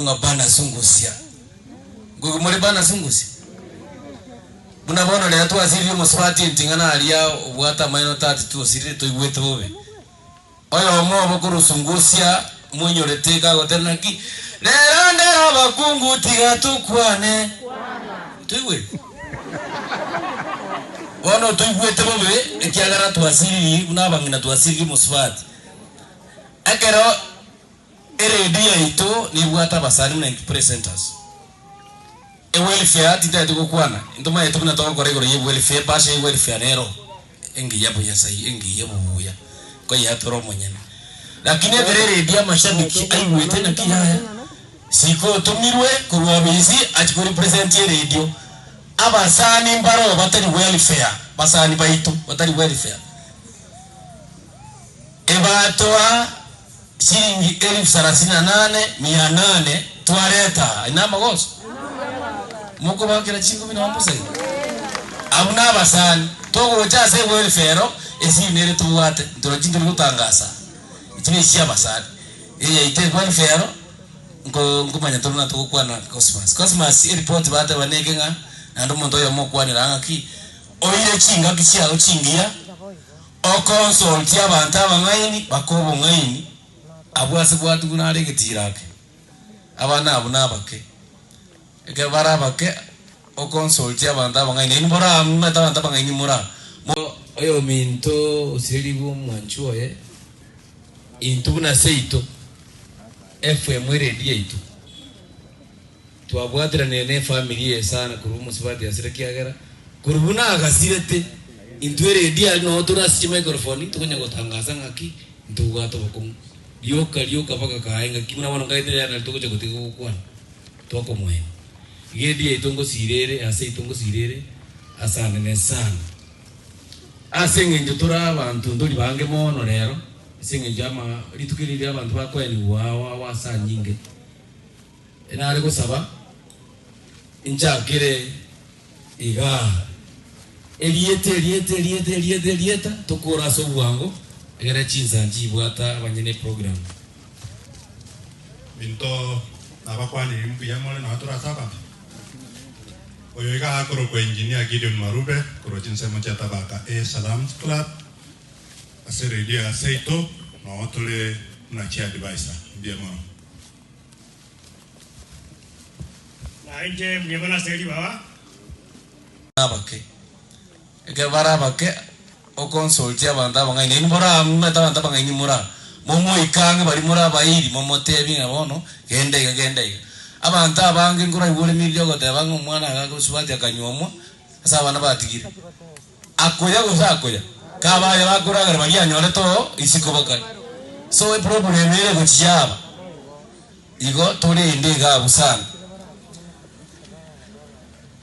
Ng'a banasungusia. Ngoigwe more banasungusia? Buna bono rero twasiririe omosubati enting'ana aria obwate amaino tati twosirire toigwete bobe. Oyomo obo korusungusia moinyorete iga agotera naki rero ndere abakungu tiga tokwane. Toigwete? Bono toigwete bobe ekiagera twasiririe buna abang'ina twasiririe omosubati. Ekero. Eredio yaito nebwate abasani buna ink presenters. Ewelfare tintagete gokwana, into maete buna togokora igoro ye welfare, ebasha ye welfare nero engiya bonyasae, engiya obobuya, nkoyeatora omonyene. Lakini ekero eredio amashabiki aigwete naki yaya, siko otomirwe korwa obisi achie ko represent eredio, abasani mbaroo batari welfare, basani baito batari welfare, ebatoa. Chiringi elifu sarasini na nane, mia nane twareta aa. Aye namagoso? Mokobakera chingumi nonya mbosa iga? Abwo nabasani. Togocha ase egoelfu ero, esiri nere tobwate. Ntoro chintori gotangasa aa. Echi nechi chiabasani. Eyaito egoelfu ero, nko, nkomanya toro na togokwana Cosmas. Cosmas, eripoti bateba neke ng'a naende omonto oyomo okwanire aa ng'aki, oire chingaki chiago chingiya, Okonsoltia abanto abang'aini bake obong'aini, abwo ase bwati buna are egetira ake. Abana abwo nabake. Ekero bare abake, okonsoltia abanto abang'aini, nainwe moramanyete abanto abang'aini mora. Oyominto osirerigwe omwanchwa oye, intwe buna seito, Efraimu eredi yaito. Twabwatiranire nefamiri eye sana korwa omosubati asira kiagera korwa buna agasirete intwe redi aria nao tore ase chimaikorofoni tokonya gotangasa ng'aki ntobwate obokong'u. Rioka rioka mpaka kaye ng'aki buna bono nkaete riaye nari togocha gotiga gokwana tokomoenya. Iga eredi yaito ngosira ere ase yaito ngosira ere ase anene sana. Ase eng'encho tore abanto ntori bange mono rero ase eng'encho ama rituko eri riria abanto bakoenigwa ao ao ase anyinge. Nare gosaba inchakire iga. Erieta, erieta, erieta, erieta, erieta, tokore ase obwango egere chinsa nchibwata abanyene eprogram. Minto nabakwanire mbuya more nao tore ase abanto. Oyo iga akorokwa Engineer Gideon Marube korwa chinsemo chia Tabaka A Salams Club ase radio ya Seito, nao tore buna chi adviser. Mbuya mono. Nainche mbuya mono ase ribaga. Abake. Ekero bare abake, oconsultie abanto abang'aini. Nainwe more abamate abanto abang'aini more aa. Momoike ang'e baria more abairi, momoteebie ng'a bono genda iga, genda iga. Abanto abange nkoraigwore emeriri y'ogoteba ng'a omwana agakosubati akanyuomwa ase abana batigire. Akoya gose akoya? Kaba aye bakoragera baria anyorete oo isiko bokari. So eproblem ere gochia aba igo tore inde iga abwo sana.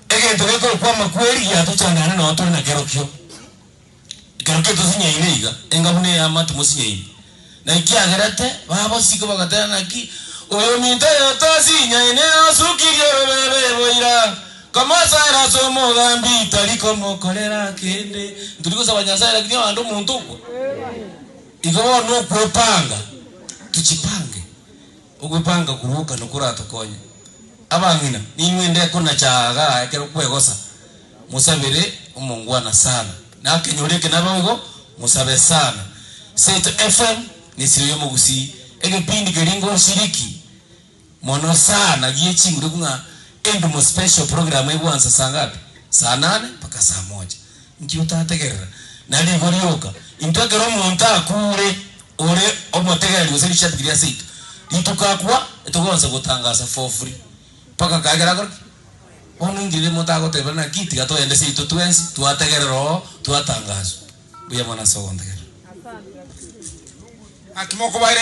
Egento gekokwama kweri giatochandana ne noo tore nakerokio. Ekerokio tosinyaine iga enga buna eyama timosinyaine. Na ekiagerete babosike bagateba, Naki oyominto oyotoosie inyae niye osukirie orobebe boira, komosaera ase omogambi, tari komokorera kende. Ntori gosaba Nyasae, lakini ohande omonto okwa. Igo bono okwa epanga, tochipange. Ogopanga koruoka nokoratokonye. Abang'ina, ninwe ndeko na chaaga ekero kwegosa, mosabere omongwana sana. Nakenyore eke naboigo, mosabe sana. Seto FM nesiro y'omogusii, egepindi keria ngoshiriki mono sana gie chinguru buna Endumo Special program egwansa saa ngapi? Saa nane mpaka saa moja. Inki otategerera? Narigo rioka. Intwe ekero omonto akuure, Ore omotegereri gose rishabi keria ase ito. Rituko akwa etogonsa gotangasa for free mpaka kae kera kore bono inki riri monto agoteba naki tiga toende seito twensi twategerera oo twatangaswa. Mbuya mono ase ogontegerera. Naki mokobaire.